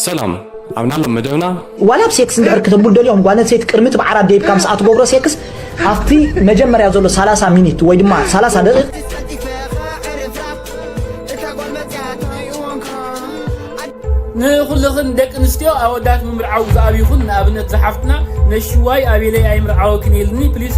ሰላም ኣብ ናሎም መደብና ዋላ ኣብ ሴክስ እንድሕር ክተብሉ ደልዮም ጓል ኣንስተይቲ ቅድሚ እቲ ብዓራት ደይብካ ምስኣ ትገብሮ ሴክስ ኣብቲ መጀመርያ ዘሎ ሰላሳ ሚኒት ወይ ድማ ሰላሳ ደቂቕ ንኹልኽን ደቂ ኣንስትዮ ኣወዳት ምምርዓው ዝኣብይኹን ንኣብነት ዝሓፍትና ነሽዋይ ኣቤለይ ኣይምርዓወክን ኢልኒ ፕሊስ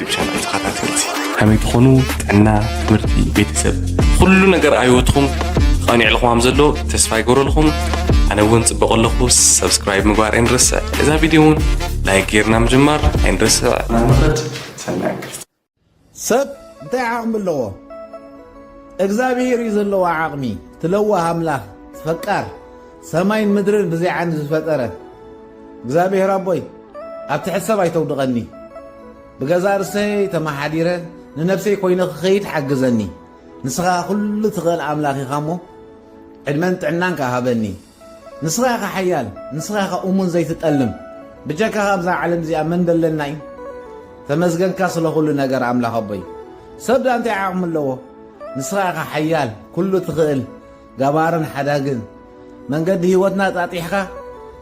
ዩቱብ ቻናል ተኸታተልቲ ከመይ ትኾኑ ጥዕና ትምህርቲ ቤተሰብ ኩሉ ነገር ኣይወትኹም ቐኒዕ ልኹም ዘሎ ተስፋ ይገብረልኹም ኣነ እውን ፅበቕ ኣለኹ ሰብስክራይብ ምግባር ኣይንረስዕ እዛ ቪድዮ እውን ላይክ ጌርና ምጅማር ኣይንረስዕ ናንኸድ ሰናይ ሰብ እንታይ ዓቕሚ ኣለዎ እግዚኣብሄር እዩ ዘለዎ ዓቕሚ ትለዋህ ኣምላኽ ፈቃር ሰማይን ምድርን ብዘይ ዓይኒ ዝፈጠረ እግዚኣብሔር ኣቦይ ኣብ ትሕቲ ሰብ ኣይተውድቐኒ ብገዛ ርሰይ ተመሓዲረ ንነብሰይ ኮይነ ክኸይድ ሓግዘኒ ንስኻ ኩሉ ትኽእል ኣምላኽ ኢኻ እሞ ዕድመን ጥዕናን ከ ሃበኒ ንስኻ ኢኻ ሓያል ንስኻ ኢኻ እሙን ዘይትጠልም ብጀካኻ ኣብዛ ዓለም እዚኣ መን ደለና እዩ ተመስገንካ ስለ ኩሉ ነገር ኣምላኽ ኣቦይ ሰብ ዳ እንታይ ዓቕሚ ኣለዎ ንስኻ ኢኻ ሓያል ኩሉ ትኽእል ገባርን ሓዳግን መንገዲ ህይወትና ኣጣጢሕካ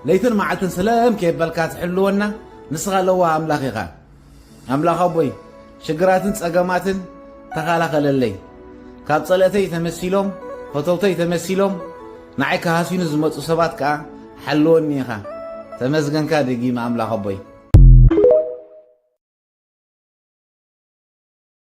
ለይትን መዓልትን ስለም ከየበልካ ትሕልወና ንስኻ ለዋህ ኣምላኽ ኢኻ ኣምላኽ ኣቦይ ሽግራትን ጸገማትን ተኸላኸለለይ ካብ ጸለእተይ ተመሲሎም ፈተውተይ ተመሲሎም ንዓይ ክሃሲኑ ዝመፁ ሰባት ከዓ ሓልወኒ ኢኻ ተመስገንካ ደጊመ ኣምላኽ ኣቦይ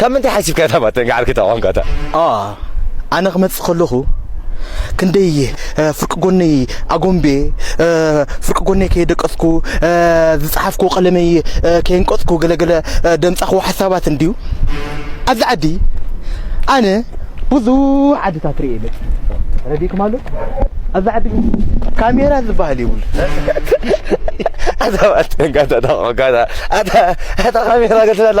ካብ ምንታይ ሓሲብካ እታ ባተን ገዓርኪ እታ ቋንቋ እታ። ኣዋ ኣነ ክመጽእ ከለኹ ክንደይ ፍርቂ ጎነይ ኣጎምቤ ፍርቂ ጎነይ ከየደቀስኩ ዝጸሓፍኩዎ ቀለመይ ከየንቀጽኩ ገለገለ ደምጻኹዎ ሓሳባት እንድዩ ኣብዚ ዓዲ ኣነ ብዙሕ ዓድታት ርእየ መጽእ ረዲእኩም ኣሎ ኣብዚ ዓዲ ግን ካሜራ ዝበሃል የብሉ ኣታ ካሜራ ገልትላ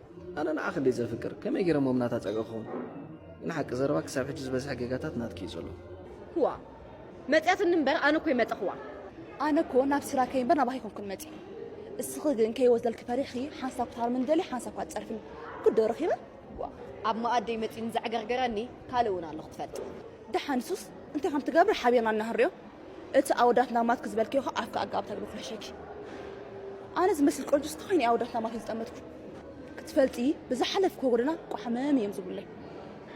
ኣነ ንዓኺ እንድየ ዘፍቅር ከመይ ገይረ እሞ ምናታ ጸገ ክኸውን ግን ሓቂ ዘረባ ክሳብ ሕጂ ዝበዝሐ ጌጋታት ናትኪ እዩ ዘሎ ክዋ መጽያትኒ እምበር ኣነ እኮ ይመጸኽዋ ኣነ እኮ ናብ ስራከይ እምበር ናባኺ ይኮንኩን መጽ እስኺ ግን ከይወስደልኪ ፈሪሕኺ ሓንሳብ ክትሃርምኒ ደልየ ሓንሳብ ካብ ትጸርፍኒ ግዶ ረኺበ ኣብ መኣደይ መጺኡ ንዘዕገርገረኒ ካልእ እውን ኣሎ ክትፈልጥ ደሓን ንሱስ እንታይ ከም ትገብር ሓቢርና እናህርዮ እቲ ኣወዳት ናማትኪ ዝበልክዮ ከ ኣፍኪ ኣጋኣብ ተግቢ ኩሕሸኪ ኣነ ዝመስል ቆንጆ ስታይን ኣወዳት ናማትይ ዝጠመትኩ ክትፈልጢ ብዝሓለፍ ኮጎደና ቋሕመም እዮም ዝብለይ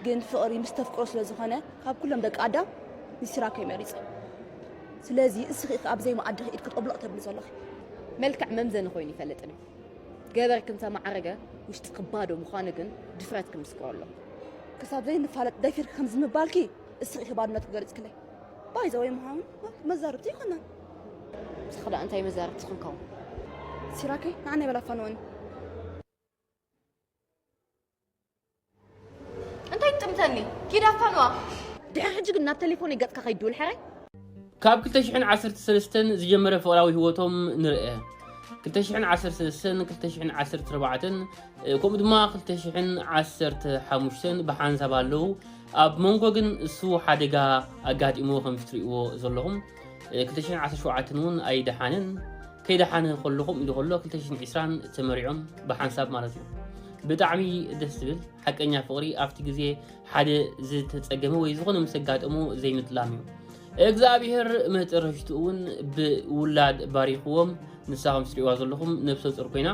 ግን ፍቕሪ ምስ ተፍቅሮ ስለ ዝኾነ ካብ ኩሎም ደቂ ኣዳም ንሲራከይ መሪጸ ስለዚ እስኺ ኢኺ ኣብዘይ መኣድኺ ኢድኪ ጦብሎቕ ተብሊ ዘለኺ መልክዕ መምዘኒ ኮይኑ ይፈልጥን እዩ ገበርኪ እንተማዕረገ ውሽጥኪ ባዶ ምዃኑ ግን ድፍረትኪ ምስክሮ ኣሎ ክሳብ ዘይንፋለጥ ደፊርኪ ከምዚ ምባልኪ እስኺ ኢኺ ባዶነትኪ ገሊጽክለይ ባይዘ ወይ ምሃውን መዛርብቲ ይኮና ንስኺ ደኣ እንታይ መዛርብቲ ክንከውን ሲራከይ ንዓና ይበላ ፋንወኒ እንታይ ትጥምተኒ ኪዳ ፋንዋ ድሕሪ ሕጂ ግን ናብ ቴሌፎነይ ገጽካ ከይድውል ሕራይ ካብ 213 ዝጀመረ ፍቕራዊ ህይወቶም ንርአ 213 ከምኡ ድማ 215 ብሓንሳብ ኣለዉ ኣብ መንጎ ግን እሱ ሓደጋ ኣጋጢምዎ ከምቲ ትሪእዎ ዘለኹም ክልተ ሽሕን ዓሰርተ ሸውዓተን እውን ኣይደሓንን ከይደሓነ ከሎ ከምኡ ኢሉ ከሎ ክልተ ሽሕን ዒስራን ተመሪዖም ብሓንሳብ ማለት እዩ ብጣዕሚ ደስ ዝብል ሓቀኛ ፍቕሪ ኣብቲ ግዜ ሓደ ዝተፀገመ ወይ ዝኾነ ምስ ኣጋጠሞ ዘይምጥላም እዩ እግዚኣብሔር መጨረሽትኡ እውን ብውላድ ባሪኽዎም ንሳ ከም ትሪእዋ ዘለኹም ነብሰ ፁር ኮይና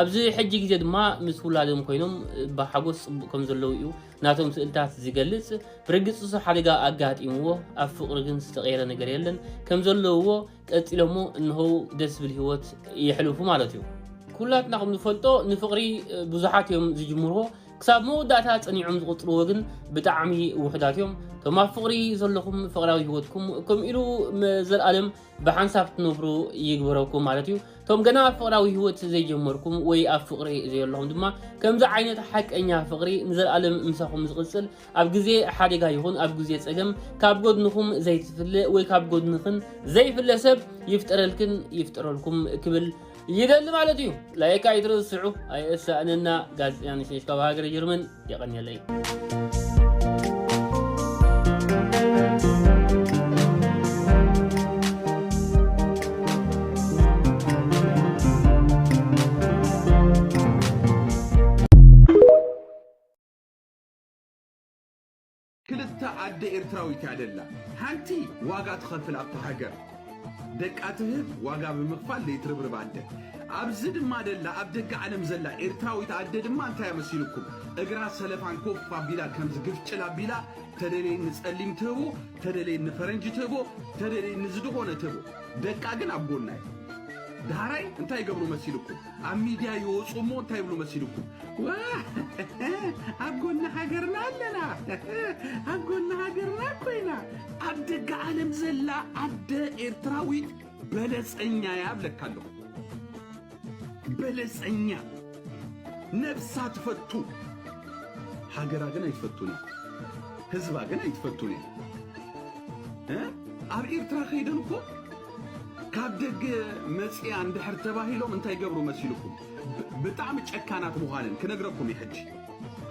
ኣብዚ ሕጂ ግዜ ድማ ምስ ውላዶም ኮይኖም ብሓጎስ ፅቡቅ ከም ዘለዉ እዩ ናቶም ስእልታት ዝገልጽ ብርግጽ እሱ ሓደጋ ኣጋጢምዎ ኣብ ፍቅሪ ግን ዝተቀየረ ነገር የለን ከም ዘለውዎ ቀጺሎሞ እንሆው ደስ ዝብል ህይወት የሕልፉ ማለት እዩ ኩላትና ከም ንፈልጦ ንፍቅሪ ብዙሓት እዮም ዝጅምርዎ ክሳብ መወዳእታ ጸኒዖም ዝቕጽልዎ ግን ብጣዕሚ ውሑዳት እዮም እቶም ኣብ ፍቅሪ ዘለኹም ፍቅራዊ ህይወትኩም ከምኡ ኢሉ ዘለኣለም ብሓንሳብ ትነብሩ ይግበረኩም ማለት እዩ እቶም ገና ኣብ ፍቕራዊ ህይወት ዘይጀመርኩም ወይ ኣብ ፍቕሪ ዘየለኹም ድማ ከምዚ ዓይነት ሓቀኛ ፍቕሪ ንዘለኣለም ምሳኹም ዝቕፅል ኣብ ግዜ ሓደጋ ይኹን ኣብ ግዜ ፀገም ካብ ጎድንኹም ዘይትፍለ ወይ ካብ ጎድንኽን ዘይፍለ ሰብ ይፍጠረልክን ይፍጠረልኩም ክብል ይደሊ ማለት እዩ ላይክ ኣይትርስዑ ኣይእሳእንና ጋዜጠኛ ንሽነሽ ካብ ሃገረ ጀርመን የቐንየለይ ክልተ ኣደ ኤርትራዊት እያ ደላ ሓንቲ ዋጋ ትኸፍል ኣብቲ ሃገር ደቃ ትህብ ዋጋ ብምኽፋል ለይትርብርብ ኣደ ኣብዚ ድማ ደላ ኣብ ደገ ዓለም ዘላ ኤርትራዊት ኣደ ድማ እንታይ እያ መሲልኩም እግራ ሰለፋን ኮፍ ኣቢላ ከምዚ ግፍጭል ኣቢላ ተደለየ ንጸሊም ትህቦ ተደለየ ንፈረንጂ ትህቦ ተደለየ ንዝድኾነ ትህቦ ደቃ ግን ኣብ ጎና እዩ ዳህራይ እንታይ ይገብሩ መሲልኩም ኣብ ሚድያ ይወፁ እሞ እንታይ ይብሉ መሲልኩም ኣብ ጎኒ ሃገርና ኣለና ኣብ ጎኒ ሃገርና ኮይና ኣብ ደገ ዓለም ዘላ ኣደ ኤርትራዊት በለፀኛ እያ ብለካ ኣለኹ በለፀኛ ነብሳ ትፈቱ ሃገራ ግን ኣይትፈቱን እያ ህዝባ ግን ኣይትፈቱን እያ ኣብ ኤርትራ ከይደን እኮ ካብ ደገ መጺኣ እንድሕር ተባሂሎም እንታይ ገብሩ መሲልኩም ብጣዕሚ ጨካናት ምዃነን ክነግረኩም እዩ ሕጂ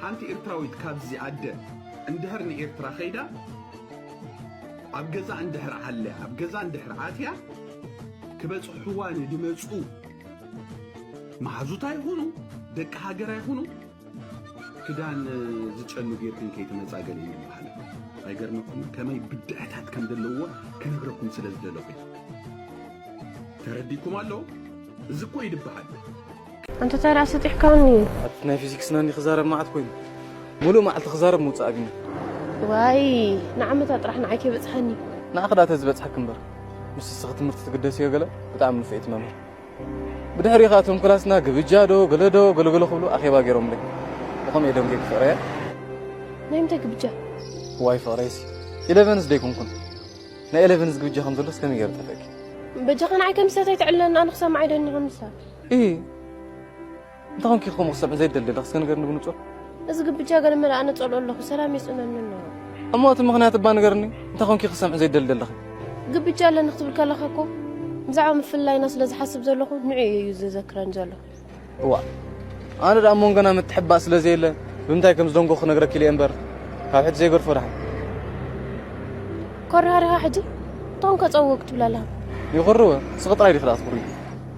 ሓንቲ ኤርትራዊት ካብዚ ኣደ እንድሕር ንኤርትራ ከይዳ ኣብ ገዛ እንድሕር ዓልያ ኣብ ገዛ እንድሕር ኣትያ ክበጽሕዋ ንድመጹ መሓዙት ኣይኹኑ ደቂ ሃገር ኣይኹኑ ክዳን ዝጨኑ ጌርክን ከይትመጻ ገለ እዩ በሃለ ኣይገርመኩም ከመይ ብድዐታት ከም ዘለዎ ክነግረኩም ስለ ዝደለኹ ተረዲኩም ኣሎ እዚ እኮ ይድበሃል ኣንተ ታዲያ ስጢሕካኒ ኣቲ ናይ ፊዚክስ ናኒ ክዛረብ መዓት ኮይኑ ሙሉእ መዓልቲ ክዛረብ ምውፃእ ኣብኒ ዋይ ንዓመታ ጥራሕ ንዓይ ከይበፅሓኒ ንኣኽዳ ተዝበፅሐክ እምበር ምስ እስኺ ትምህርቲ ትግደስዮ ገለ ብጣዕሚ ንፍዒቲ መምህር ብድሕሪኻ እቶም ክላስና ግብጃ ዶ ገለ ዶ ገለ ገለ ክብሉ ኣኼባ ገይሮምለይ። ብኸምኡ እየ ደንጊየ ፍቕረያ። ናይ ምንታይ ግብጃ? እዋይ ፍቕረይሲ ኢለቨንስ ዶ ኣይኮንኩን? ናይ ኤለቨንስ ግብጃ ከም ዘሎስ ከመይ ገይረ ጠፍእኪ? በጃኻ ንዓይ ከም እንስሳት ኣይተዕልለኒ፣ ኣነ ክሰምዓ እየ ደኒቐ ምስታ። እሂ! እንታይ ኮንኪ ከምኡ ክትሰምዒ ዘይደሊ ኣለኺ እስከ ንገርኒ ብንጹር እዚ ግብጃ ገለ መለ ኣነ ጸልኦ ኣለኹ ሰላም የጽነኒ ኣሎ እሞ እቲ ምኽንያት እባ ንገርኒ እንታይ ኮንኪ ክትሰምዒ ዘይደሊ ዘለኺ ግብጃ ኣለኒ ክትብል ከለኻ እኮ ብዛዕባ ምፍልላይና ስለ ዝሓስብ ዘለኹ ንዑ እዩ ዘዘክረን ዘሎ እዋ ኣነ ደኣ ሞንጎና ምትሕባእ ስለ ዘየለ ብምንታይ ከም ዝደንጎ ክነግረኪ ኢለ እምበር ካብ ሕጂ ዘይገድፎ ድሓን ኮራሃሪኻ ሕጂ እቶም ከጸውቕ ትብላ ኣለኻ ይኹርወ ስቕ ጥራይ ዲኺ ደኣ ትኹሪ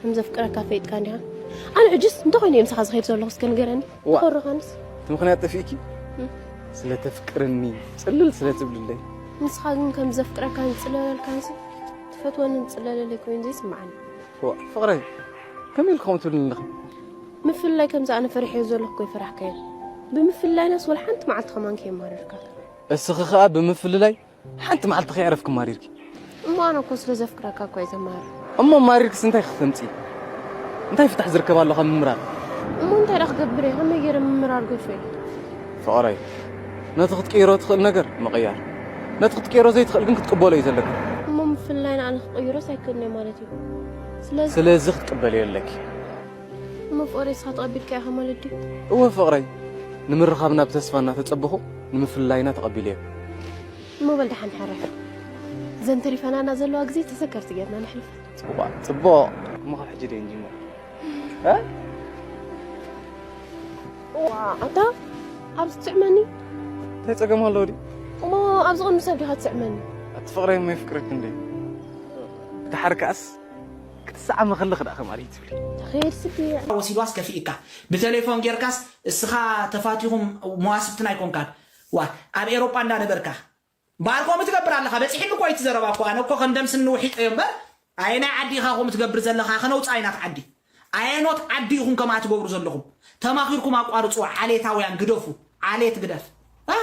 ከም ዘፍቅረካ ፈይጥካ እንዲኻ ኣነ ሕጅስ እንታይ ኮይኑ እየ ምሳኻ ዝኸይድ ዘለኹ እስከ ንገረኒ ኮረኻንስ እቲ ምክንያት ጠፊእኪ ስለተፍቅርኒ ፅልል ስለትብልለይ ንስኻ ግን ከም ዘፍቅረካ ንፅለለልካንስ ትፈትወኒ ንፅለለለይ ኮይኑ ዘይስምዓኒ ፍቕረይ ከመይ ኢልኩም ትብልኒ ኣለኺ ምፍልላይ ከምዚ ኣነ ፈሪሐዮ ዘለኹ ኮይፈራሕካዮ ብምፍልላይናስ ወላ ሓንቲ መዓልቲ ከማን ከየማረርካ እስኺ ከዓ ብምፍልላይ ሓንቲ መዓልቲ ከይዕረፍኪ ማሪርኪ እሞ ኣነ እኮ ስለ ዘፍቅረካ እኮ እየ ዘማርር እሞ ማሪርክስ እንታይ ክትፈምፂ እንታይ ፍታሕ ዝርከብ ኣሎ ካብ ምምራር እሞ እንታይ ዳ ክገብር እየ ከመይ ገይረ ምምራር ገሹ እየ ፍቕረይ ነቲ ክትቅይሮ ትኽእል ነገር ምቕያር ነቲ ክትቅይሮ ዘይትኽእል ግን ክትቅበሎ እዩ ዘለካ እሞ ምፍላይ ንኣነ ክቕይሮስ ኣይክእልን እየ ማለት እዩ ስለዚ ክትቅበልዮ ኣለኪ እሞ ፍቕረይ እስኻ ተቐቢልካዮ ኢኻ ማለት ድዩ? እወ ፍቕረይ፣ ንምርኻብና ብተስፋ እናተጸበኹ ንምፍልላይና ተቐቢለዮ። እሞ በል ደሓን ሕረፍ። እዘን ተሪፈናና ዘለዋ ግዜ ተዘከርቲ ጌርና ነሕልፈን። እባ ጽቡቕ፣ እሞ ካብ ሕጂ ደይ ንጅምር። ዋእ ኣታ ኣብዚ ትስዕመኒ? እንታይ ጸገም ኣለዎ ድዩ? እሞ ኣብዚ ቕድሚ ሰብ ዲኻ ትስዕመኒ? ኣቲ ፍቕረይ እሞ የፍቅረኪ እንድየ። ደሓር ከኣስ ክትሰዓሚ ከለኺ ደኣ ከማን ትብሊ። ተኸየድሲ ድየ? ወሲድዋስ ከፊእካ ብተሌፎን ጌርካስ እስኻ ተፋቲኹም መዋስብትና ኣይኮንካን ዋእ ኣብ ኤሮጳ እንዳ ነበርካ እምበኣር ከምኡ ትገብር ኣለኻ በጺሕኒ እኮ እዩ እቲ ዘረባ እኮ ኣነ እኮ ከም ደም ስኒ ውሒጠዮ እምበር ኣየናይ ዓዲ ኢኻ ከምኡ ትገብር ዘለኻ ከነውጽኣ ኢና እቲ ዓዲ ኣየኖት ዓዲ ኢኹም ከምኣ ትገብሩ ዘለኹም ተማኺርኩም ኣቋርጽዋ ዓሌታውያን ግደፉ ዓሌት ግደፍ እ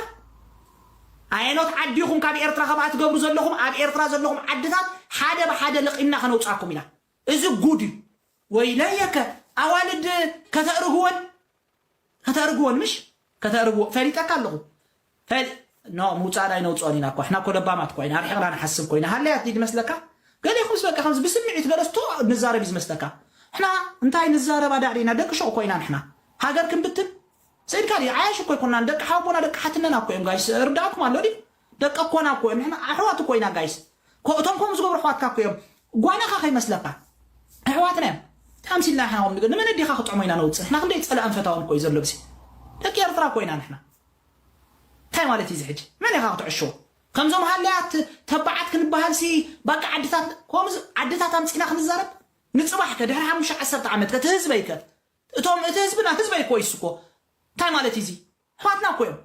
ኣየኖት ዓዲ ኢኹም ካብ ኤርትራ ከምኣ ትገብሩ ዘለኹም ኣብ ኤርትራ ዘለኹም ዓድታት ሓደ ብሓደ ለቒምና ከነውጻኩም ኢና እዚ ጉድ እዩ ወይለየከ ኣዋልድ ከተእርግወን ከተእርግዎን ምሽ ከተእርግዎ ፈሊጠካ ኣለኹ ፈሊ ኖ ምውጻእን ኣይነውጽኦን ኢና እኮ ኣሕና እኮ ለባማት እኮ ኢና ኣርሒቕና ንሓስብ ኮይና ሃለያ ትይ ዝመስለካ ገሌኹምስ በቃ ከምዚ ብስምዒት ገለስ ቶ ንዛረብ እዩ ዝመስለካ ሕና እንታይ ንዛረብ ኣዳዕድ ኢና ደቂ ሹቕ እኮ ኢና ንሕና ሃገር ክንብትን ስእድካ ድዩ ዓያሽ እኮ ኣይኮናን ደቂ ሓውቦና ደቂ ሓትነና እኮ እዮም ጋይስ ርዳእኩም ኣሎ ድዩ ደቂ ኮና እኮ ንሕና ኣሕዋት እኮ ኢና ጋይስ እኮ እቶም ከምኡ ዝገብሩ ኣሕዋትካ እኮ እዮም ጓናኻ ከይመስለካ ኣሕዋትና እዮም ተኣምሲልና ንሕና ከም ንገ ንመነዴኻ ክጥዕሞ ኢና ነውፅእ ንሕና ክንደይ ፀላእን ፈታውን እኮ እዩ ዘሎ ብሲ ደቂ ኤርትራ እኮ ኢና ንሕና እንታይ ማለት እዩ እዚ ሕጂ መን ኢኻ ክትዕሽዎ ከምዞም ሃለያት ተባዓት ክንበሃል ሲ ባቃ ዓድታት ከምዚ ዓድታት ኣምፂና ክንዛረብ ንፅባሕ ከ ድሕሪ ሓሙሽተ ዓሰርተ ዓመት ከ እቲ ህዝበይ ከ እቶም እቲ ህዝብና ህዝበይ እኮ ይስኮ እንታይ ማለት እዩ እዚ ኣሕዋትና እኮ እዮም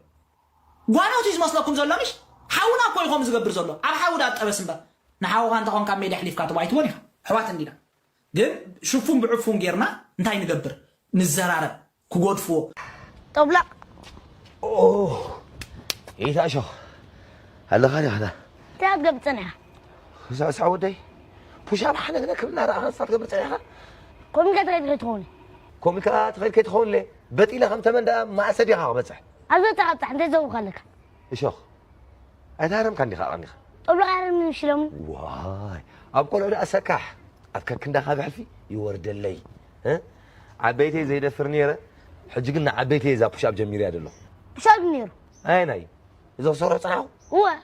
ጓኖት እዩ ዝመስለኩም ዘሎ ምሽ ሓውና እኮ እዩ ከምኡ ዝገብር ዘሎ ኣብ ሓዊ ዳ ጠበስ እምበር ንሓውኻ እንተኾንካ ኣብ ሜድያ ኣሕሊፍካ ትቦ ኣይትቦን ኢኻ ኣሕዋት እንዲና ግን ሽፉን ብዕፉን ጌርና እንታይ ንገብር ንዘራረብ ክጎድፍዎ ጦብላቕ ኦህ ኢታ ሸኽ ኣለኻ ዲኻ እታ ገብ ጸኒሓ ሳሳ ወደይ ፑሻብ ሓነግነ ክብና ረኣኻ ንሳ ትገብር ጸኒሓ ኮሚካ ትኸይድ ከይትኸውን ኮሚካ ትኸይድ ከይትኸውን በጢለ ከም ተመን ደኣ ማእሰ ዲኻ ክበጽሕ። ኣዞ ተቐጣዕ እንተ ዘውካ ኣለካ። እሾኽ ኣይተሃረምካን ዲኻ ቀኒኻ። ጦብሎቕ ኣይሃርምን ምሽ ሎሚ። ዋይ ኣብ ቆልዑ ደኣ ሰካሕ ኣብ ከርክንዳኻ ብሕልፊ ይወርደለይ እ ዓበይተይ ዘይደፍር ኔረ ሕጂ ግን ንዓበይተይ እዛ ፑሽ ኣብ ጀሚረያ ዘለኹ። ክሳብ ኔሩ። ኣየናይ እዚ ክሰርሖ ጸናሕኩ? እወ።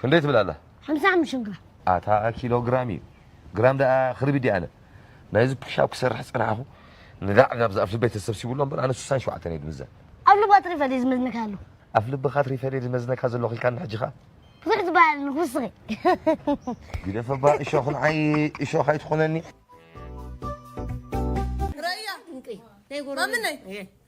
ክንደይ ትብል ኣላ? ሓምሳ ሓሙሽተ ግራም። ኣታ ኪሎ ግራም እዩ ግራም ደኣ ክርቢ ድየ ኣነ ናይዚ ፑሻፕ ክሰርሕ ዝጸናሕኩ ንዳዕ ናብዚ ኣፍ ልበይ ተሰብሲቡ ኣሎ እምበር ኣነ ስሳን ሸውዓተን እየ ድምዘ። ኣፍ ልብ ካትሪ ፈልየ ዝመዝነካ ኣሎ። ኣፍ ልብ ካትሪ ፈልየ ዝመዝነካ ዘለኹ ኢልካኒ ሕጂ ከኣ። ብዙሕ ዝበሃል ኣሎ ክውስኺ። ግደፈ እባ እሾኽ ንዓይ እሾኽ ኣይትኹነኒ። ረያ ማምነይ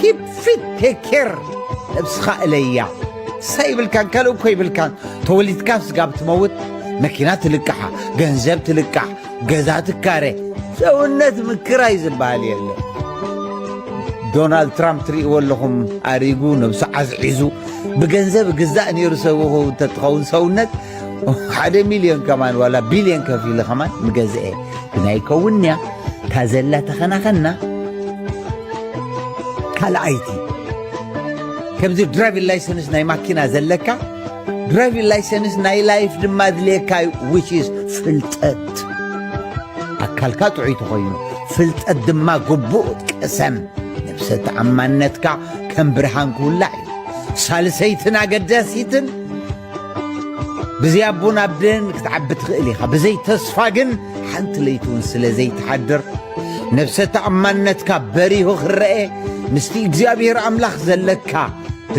ኪፕ ፊት ቴክ ኬር ነብስኻ እለያ ንሳ ይብልካን ካልእ እኮ ይብልካን ተወሊድካ ስጋብ ትመውት መኪና ትልቅሓ ገንዘብ ትልቃሕ ገዛ ትካረ ሰውነት ምክራይ ዝበሃል የለ ዶናልድ ትራምፕ ትርእይዎ ኣለኹም ኣሪጉ ነብሱ ዓዝዒዙ ብገንዘብ ግዛእ ነይሩ ሰብኹ እንተትኸውን ሰውነት ሓደ ሚልዮን ከማን ዋላ ቢልዮን ከፊለ ከማን ምገዝአ ግን ኣይከውን እያ እታ ዘላ ተኸናኸና ካልኣይቲ ከምዚ ድራይቪን ላይሰንስ ናይ ማኪና ዘለካ ድራይቪን ላይሰንስ ናይ ላይፍ ድማ ድልየካ እዩ ዊችስ ፍልጠት ኣካልካ ጥዑይ ተኾይኑ ፍልጠት ድማ ግቡእ ቅሰም ነብሰ ተኣማንነትካ ከም ብርሃን ክውላዕ እዩ ሳልሰይትን ኣገዳሲትን ብዘይ ኣቦን ኣደን ክትዓቢ ትኽእል ኢኻ ብዘይ ተስፋ ግን ሓንቲ ለይቲ እውን ስለ ዘይትሓድር ነብሰ ተኣማንነትካ በሪሁ ክረአ ምስቲ እግዚኣብሔር ኣምላኽ ዘለካ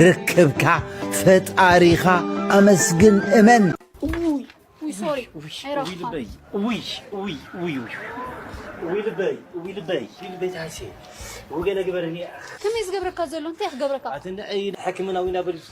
ርክብካ ፈጣሪኻ ኣመስግን እመን ከመይ ዝገብረካ ዘሎ እንታይ ክገብረካ ሕክምና ዊና በሪሱ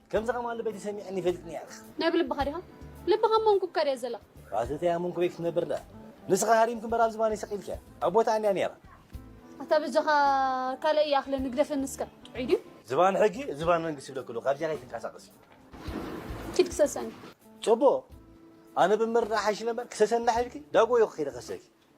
ከምዚ ከም ኣሉ በቲ ሰሚዐኒ ይፈልጥኒ ያኽ። ናይ ብልብኻ ዲኻ? ልብኻ ኣብ መንኩብካ ድያ ዘላ? ራስእተይ ኣብ መንኩበይ ክትነብር ድኣ ንስኻ ሃሪምኪ እምበር ኣብ ዝባነይ ሰቂልኪያ ኣብ ቦታኣን እያ ኔራ። ኣታ በጃኻ ካልእ ይኣኽለኒ ግደፈኒ እስከ ጥዑይ ድዩ? ዝባን ሕጊ ዝባን መንግስቲ ይብለኪ ኣለኹ ካብዚኣ ከይትንቀሳቀሲ። ኪድ ክሰሰኒ። ጽቡቕ ኣነ ብምርዳእ ሓይሽ ኢለ እምበር ክሰሰኒ ድሓ ኢልኪ ዳጎ እየ እኮ ከይደ ክሰኪ።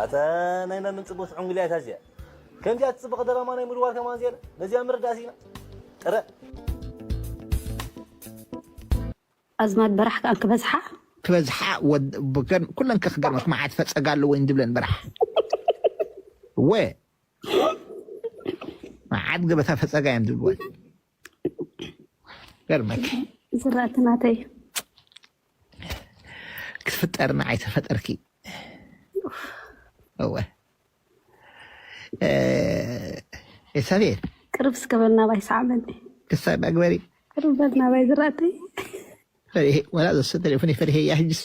ኣታ ናይ ማምን ጽቡት ዕንጉልያ ታዚያ ከምዚኣ ትጽብቕ ደራማ ናይ ምድዋር ከማን ዜና ነዚኣ ምርዳእ ሲና ጥረ ኣዝማድ በራሕ ከኣን ክበዝሓ ክበዝሓ ኩለን ከክገርመሽ መዓት ፈፀጋ ኣለወይን ዝብለን በራሕ ወ መዓት ገበታ ፈፀጋ እዮም ዝብልወን ገርመኪ ዝራእቲ ናተይ ክትፍጠር ንዓይ ተፈጠርኪ እወ እ፣ ኤልሳቤጥ ቅርብ እስከ በል ናባይ ሰዓበኒ ክሳብ ኣግበሪ ቅርብ በል ናባይ ዝራእተይ ፈሪሄ ወላ ዘሰ ቴሌፎን ፈሪሄ እያ ሕጅስ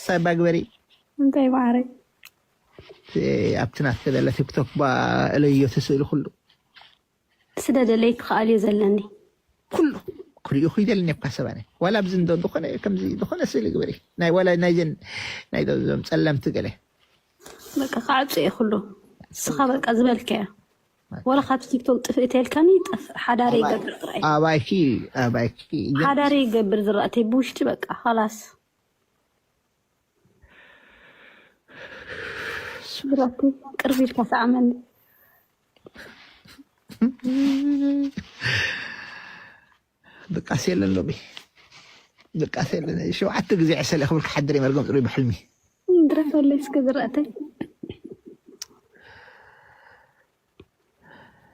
ሳባ ግበሪ እንታይ ማዕረይ ኣብቲ ናት ተበለ ቲክቶክ ባ እለዮ ትስእሊ ኩሉ ስደደለይ ትኸኣልዮ ዘለኒ ኩሉ ክሪኡ ክይደልኒ እኳ ሰባነ ዋላ ኣብዚ እንዶ ዝኾነ ከምዚ ዝኾነ ስእሊ ግበሪ ናይ ዋላ ናይዘን ናይ ዞም ፀለምቲ ገለ በቃ ክዓፁ እየ ኩሉ ንስኻ በቃ ዝበልከዮ ዋላ ካብቲ ቲክቶክ ጥፍእ ተልካኒ ጠፍእ ሓዳረይ ይገብር ጥራይ ኣባይኪ ኣባይኪ እያ ሓዳረይ ይገብር ዝራእተይ ብውሽጢ በቃ ኻላስ ዝራእተይ ቅርብ ኢልካ ሰዓመኒ ድቃስ የለን ሎሚ ድቃስ የለን ሸውዓተ ግዜ ዕሰለ ክብል ክሓድር እየ መርገም ፅሩይ ብሕልሚ ድረፈለይ እስኪ ዝረእተይ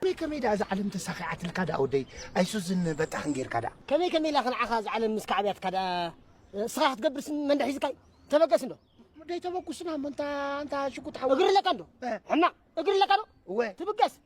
ከመይ ከመይ ደኣ እዛ ዓለም ተሳኺዓትልካ ደኣ ወደይ ኣይሱዝን በጣኽን ጌርካ ደኣ ከመይ ከመይ ኢላ ክንዓኻ እዛ ዓለም ምስ ካዕብያትካ ደኣ ስኻ ክትገብርስ መንደሕ ሒዝካይ ተበገስ እንዶ ደይ ተበኩስና እሞ እንታ እንታ ሽጉጥ ሓው እግሪ ለካ እንዶ ሕማቕ እግሪ ለካ ዶ እወ ትብገስ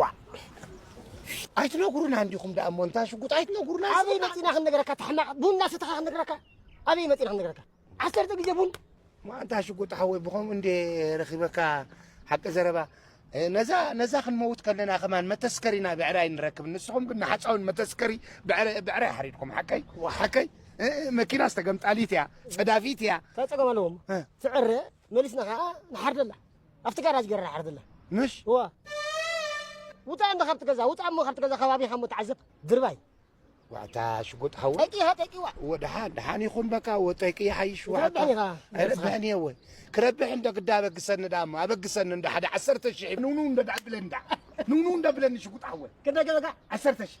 ዋእ ኣይትነግሩናን ዲኹም ደኣ እሞ እንታ ሽጉጥ ኣይትነግሩና ኣበይ መፂና ክንነግረካ ተሕማቕ ቡን እናሰተኻ ክንነግረካ ኣበይ መፂና ክንነግረካ ዓሰርተ ግዜ ቡን ማእንታ ሽጉጥ ሓወይ ብኸምኡ እንደ ረኺበካ ሓቂ ዘረባ ነዛ ነዛ ክንመውት ከለና ከማን መተስከሪና ብዕራይ ንረክብ ንስኹም ግን ንሓፃውን መተስከሪ ብዕራይ ሓሪድኩም ሓቀይ ሓቀይ መኪና ዝተገምጣሊት እያ ፀዳፊት እያ ተፀገም ኣለዎም ትዕረ መሊስና ከኣ ንሓርደላ ኣብቲ ጋራጅ ገይረ ንሓርደላ ምሽ እዋ ውፃእ እንዶ ካብቲ ገዛ ውፃእ እሞ ካብቲ ገዛ ከባቢኻ እሞ ተዓዘብ ድርባይ ዋዕታ ሽጉጥ ሓወ ጠቂኻ ጠቂዋ እወ ደሓን ደሓን ይኹን በቃ እወ ጠቂ ይሓይሽ ዋዕታ ክትረብሕን ኢኻ ኣይረብሕን እየ እወ ክረብሕ እንዶ ግዳ ኣበግሰኒ ደኣ እሞ ኣበግሰኒ እንዶ ሓደ ዓሰርተ ሽሕ ንውንው እንዶ ደኣ ብለኒ ደኣ ንውንው እንዶ ብለኒ ሽጉጥ ሓወ ክንደይ ገዛካ ዓሰርተ ሽሕ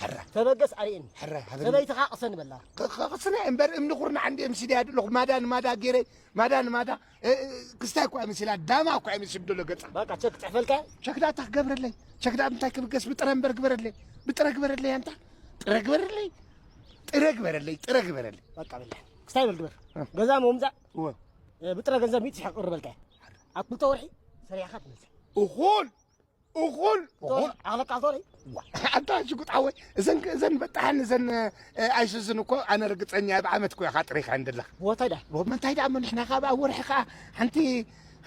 ሕረ ተበገስ ኣርእየኒ ሕረ ሃበኒ ሰበይትኻ ቅሰኒ በላ ክቕስነ እምበር እምኒ ኩርናዕ እንዲ ምስድያ ድለኹ ማዳ ንማዳ ገይረ ማዳ ንማዳ ክስታይ እኳ ይመስላ ዳማ እኳ ይመስል ደሎ ገጻ በቃ ቸክ ጽሕፈልካ ቸክዳ እታ ክገብረለይ ቸክዳ እንታይ ክብገስ ብጥረ እምበር ግበረለይ ብጥረ ግበረለይ ኣንታ ጥረ ግበረለይ ጥረ ግበረለይ ጥረ ግበረለይ በቃ በላ ክስታይ በል ግበር ገዛ ምውምዛዕ ብጥረ ገንዘብ ሚት ሽሕ ቅርበልካ ኣብ ክልተ ወርሒ ሰሪሕኻ ትመልሰ እኹል እኹል እኹል ኣለቃ ዞሪ ኣታ ሽጉጥ ሓወይ እዘን እዘን በጣሕን እዘን ኣይስዝን እኮ ኣነ ርግፀኛ ኣብ ዓመት እኮ ኢኻ ጥሪኻ እንደለኻ ቦታይ ዳ ምንታይ ደኣ ንሕና ካብ ኣብ ወርሒ ከዓ ሓንቲ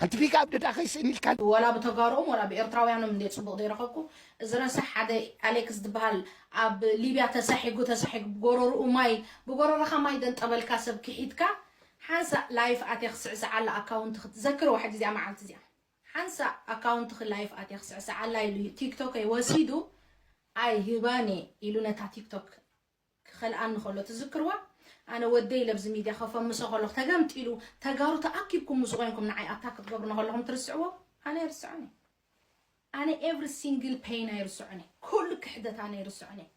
ሓንቲ ቢጋ ኣብ ደዳ ከይስእን ኢልካ ወላ ብተጋሩኦም ወላ ብኤርትራውያኖም እንድየ ጽቡቕ ዘይረኸብኩ እዚ ረሳሕ ሓደ ኣሌክስ ዝበሃል ኣብ ሊብያ ተሳሒጉ ተሳሒጉ ብጎረርኡ ማይ ብጎረርኻ ማይ ደንጠበልካ ሰብ ክሒድካ ሓንሳእ ላይፍ ኣትየ ክስዕስዓላ ኣካውንቲ ክትዘክር ዋሕዲ እዚኣ መዓልቲ እዚኣ ሓንሳእ ኣካውንትኺ ላይፍ ኣትየ ክስዕስዓላ ኢሉ ቲክቶከይ ወሲዱ ኣይህባን እየ ኢሉ ነታ ቲክቶክ ክኸልኣኒ ከሎ ትዝክርዋ ኣነ ወደይ ለብዚ ሚድያ ከፈምሶ ከለኹ ተገምጢሉ ተጋሩ ተኣኪብኩም ምስ ኮይንኩም ንዓይ ኣታክ ክትገብሩኒ ከለኹም ትርስዕዎ ኣነ ኣይርስዖን እየ ኣነ ኤቭሪ ሲንግል ፔይን ኣይርስዖን እየ ኩሉ ክሕደት ኣነ ኣይርስዖን እየ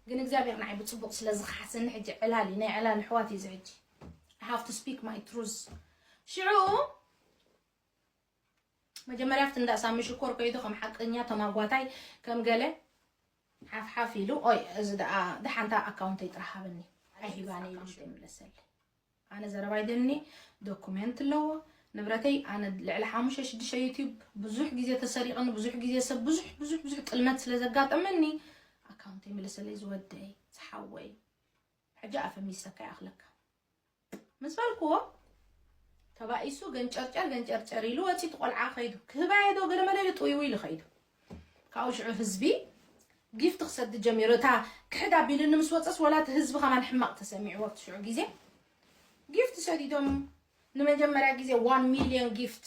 ግን እግዚኣብሔር ንዓይ ብፅቡቅ ስለ ዝኸሓሰኒ ሕጂ ዕላል እዩ ናይ ዕላል ኣሕዋት እዩ እዚ ሕጂ I have to speak my truth ሽዑ መጀመርያ ኣብቲ እንዳ ሳሚ ሽኮር ከይዱ ከም ሓቀኛ ተማጓታይ ከም ገለ ሓፍሓፍ ኢሉ ኦይ እዚ ደኣ ደሓንታ ኣካውንተይ ጥራሕ ሃበኒ ኣይሂባኒ ኢሉ ዘይምለሰሊ ኣነ ዘረባይ ደኒ ዶኩሜንት ኣለዎ ንብረተይ ኣነ ልዕሊ ሓሙሽተ ሽዱሽተ ዩትዩብ ብዙሕ ግዜ ተሰሪቕኒ ብዙሕ ግዜ ሰብ ብዙሕ ብዙሕ ብዙሕ ጥልመት ስለ ዘጋጠመኒ ኣካውንተይ ምለሰለይ ዝወደይ ዝሓወይ ሕጂ ኣፈሚሰካ ይኣኽለካ ምስ በልክዎ ተባኢሱ ገንጨርጨር ገንጨርጨር ኢሉ ወፂ እቲ ቆልዓ ከይዱ ክህባየ ዶ ገለመለ ኢሉ ጥውይውይ ኢሉ ከይዱ ካብኡ ሽዑ ህዝቢ ጊፍት ክሰድድ ጀሚሩ እታ ክሕድ ኣቢሉኒ ምስ ወፀስ ወላ እቲ ህዝቢ ከማን ሕማቕ ተሰሚዕዎ ኣብቲ ሽዑ ግዜ ጊፍት ሰዲዶም ንመጀመርያ ግዜ ዋን ሚልዮን ጊፍት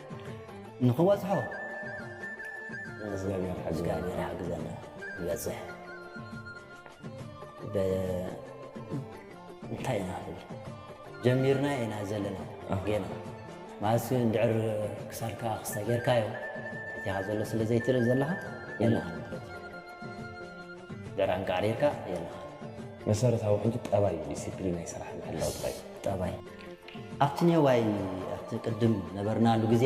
ንኽበጽሖ እግዚኣብሔር ሓግዘና ይበፅሕ እንታይ ኢና ብል ጀሚርና ኢና ዘለና ጌና ማለት እንድዕር ክሳድካ ክስተ ጌርካዮ እቲኻ ዘሎ ስለ ዘይትርኢ ዘለኻ የለኻ ድዕር ኣንቃዕሪርካ የለኻ መሰረታዊ ሕጂ ጠባይ ዲስፕሊን ናይ ስራሕ ምሕላው ጥራይ ጠባይ ኣብቲ ኔዋይ ኣብቲ ቅድም ነበርናሉ ግዜ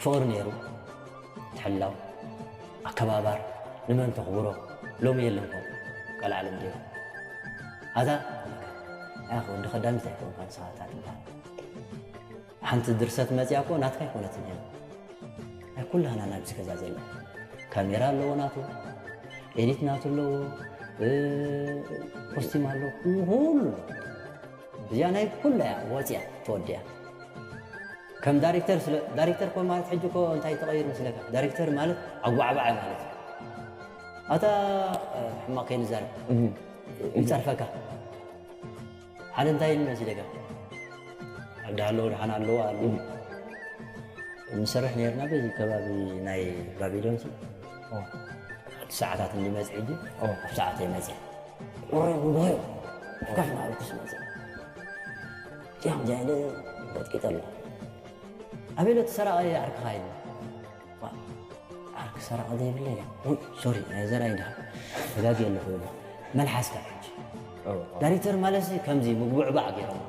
ፍቕሪ ነይሩ፣ ምትሕልላው፣ ኣከባባር፣ ንመን ተኽብሮ፣ ሎሚ የለንኮ ቀልዓ ሎም ዲዮ ኣዛ ኣያኸ ወዲ ከዳሚት ኣይኮንካን ሰባታ ትብሃል። ሓንቲ ድርሰት መጽያ እኮ ናትካ ኣይኮነትን እያ ናይ ኩላህና ኢና ኣብዚ ገዛ ዘለና ካሜራ ኣለዎ ናቱ ኤዲት ናቱ ኣለዎ ኮስቲም ኣለዎ ኩሉ እዚኣ ናይ ኩላ እያ ወፅያ ተወዲያ ከም ዳይሬክተር ስለ ዳይሬክተር ኮ ማለት ሕጂ ኮ እንታይ ተቐይሩ ምስለካ ዳይሬክተር ማለት ኣጓዕባዕ ማለት እዩ ኣታ ሕማቕ ከይንዛረብ ይፀርፈካ ሓደ እንታይ ኢልና እዚ ደጋ ኣብ ዳሃለዎ ደሓን ኣለዎ ኣሉ ንሰርሕ ነርና በዚ ከባቢ ናይ ባቢሎን ሲ ሓንቲ ሰዓታት እንዲ መፅ ሕጂ ኣብ ሰዓት የመፅ ወረ ጉባኤ ከፍ ናበልኩስ መፅ ጢያም ጃይለ ቀጥቂጠ ኣሎ ኣቤሎ ትሰራቐ ዓርክኻ ኢሉ ዓርኪ ሰራቒ ዘይብለይ ወይ ሶሪ ናይ ዘርኣይ ድሃ ተጋጊየ ኣለኹ ይብሎ መልሓስካ ሕጂ ዳይሬክተር ማለት ከምዚ ምጉብዕባዕ ገይሮም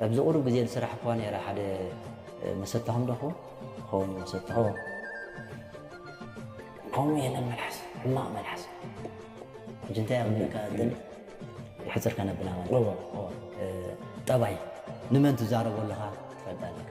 ኣብዚ ቁሩብ ግዜ ዝስራሕ እኳ ነረ ሓደ መሰታኹም ደኹ ኸውን መሰታኹ ከምኡ የለን መልሓስ ሕማቕ መልሓስ ሕጂ እንታይ ኣብልካ ደሊ ሕፅር ከነብላ ማለት ጠባይ ንመን ትዛረቦ ኣለኻ ትፈልጣ ኣለካ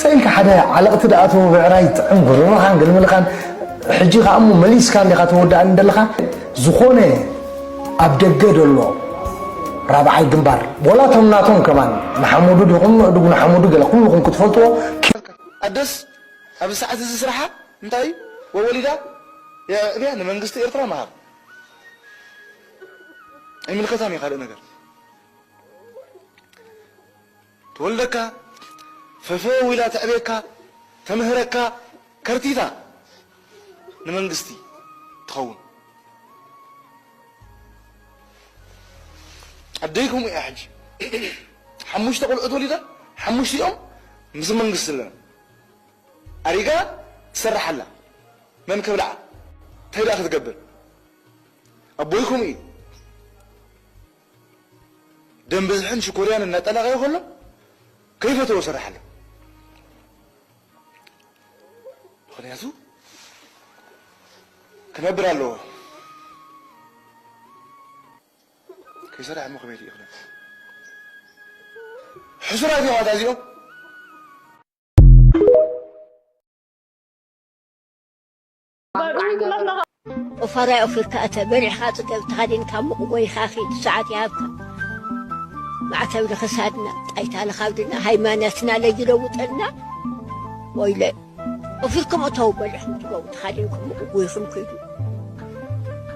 ሰኢልካ ሓደ ዓለቕቲ ደኣ እቶ ብዕራይ ጥዕም ጉርርኻን ግልምልኻን ሕጂ ከኣ እሞ መሊስካ እንዲኻ ተወድኣኒ ዘለኻ ዝኾነ ኣብ ደገ ዘሎ ራብዓይ ግንባር ወላ እቶም ናቶም ከማን ንሓመዱ ዲኹም ንእዱግ ንሓመዱ ገለ ኩልኹም ክትፈልጥዎ ኣደስ ኣብዚ ሰዓት እዚ ስራሓ እንታይ እዩ ወወሊዳ የዕብያ ንመንግስቲ ኤርትራ መሃብ ኣይምልከታን እዩ ካልእ ነገር ትወልደካ ፈፈው ኢላ ተዕብየካ ተምህረካ ከርቲታ ንመንግስቲ ትኸውን ኣደይ ከምኡ እያ ሕጂ ሓሙሽተ ቆልዑት ወሊዳ ሓሙሽቲኦም ምስ መንግስቲ ኣለና ኣሪጋ ትሰርሕ ኣላ መን ከብልዓ እንታይ ደኣ ክትገብር ኣቦይ ከምኡ እዩ ደም ብዝሕን ሽኮርያን እናጠላቐዮ ከሎ ከይፈተዎ ስራሕ ኣሎ ምክንያቱ ክነብር ኣለዎ ከይሰራሕ እሞ ከመይ ይኽነ ሕሱራት እዮም ኣታ እዚኦም ኦፋራይ ኦፊርካ እተ በሪሕኻ ጽገብ ተኸዲንካ ሙቕ ጎይኻ ኺድ ሰዓት ይሃብካ ማዕተብ ንኽሳድና ጣይታ ንኻብድና ሃይማኖትና ለይለውጠልና ወይለ ኦፊርኩም እተው በሪሕኩም ትገቡ ተኻዲንኩም ሙቕ ጎይኹም ኪዱ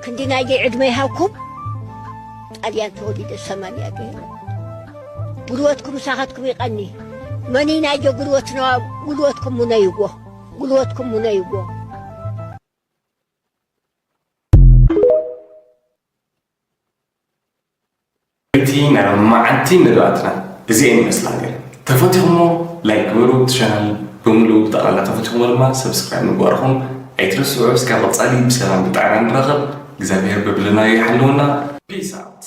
ክንዲ ናይዘይ ዕድመ ይሃብኩም ጣልያን ተወሊደ ሰማንያ ገይረ ጉልበትኩም ምሳኻትኩም ይቐኒ መኒ ናይዘ ጉልበትና ጉልበትኩም ሙነይዎ ጉልበትኩም ሙነይዎ። እቲ ናይ መዓልቲ መደባትና እዚኤን ይመስላ ነይረን። ተፈቲኹሞ ላይክ ግበሩ፣ እቲ ቻናል ብምሉኡ ብጠቕላላ ተፈቲኹሞ ድማ ሰብስክራይብ ምግባርኹም ኣይትረስዑ። እስከ ቀፃሊ ብሰላም ብጥዕና ንራኸብ። እግዚኣብሄር በብለናዮ ይሓልወና። ፒስ ኣውት።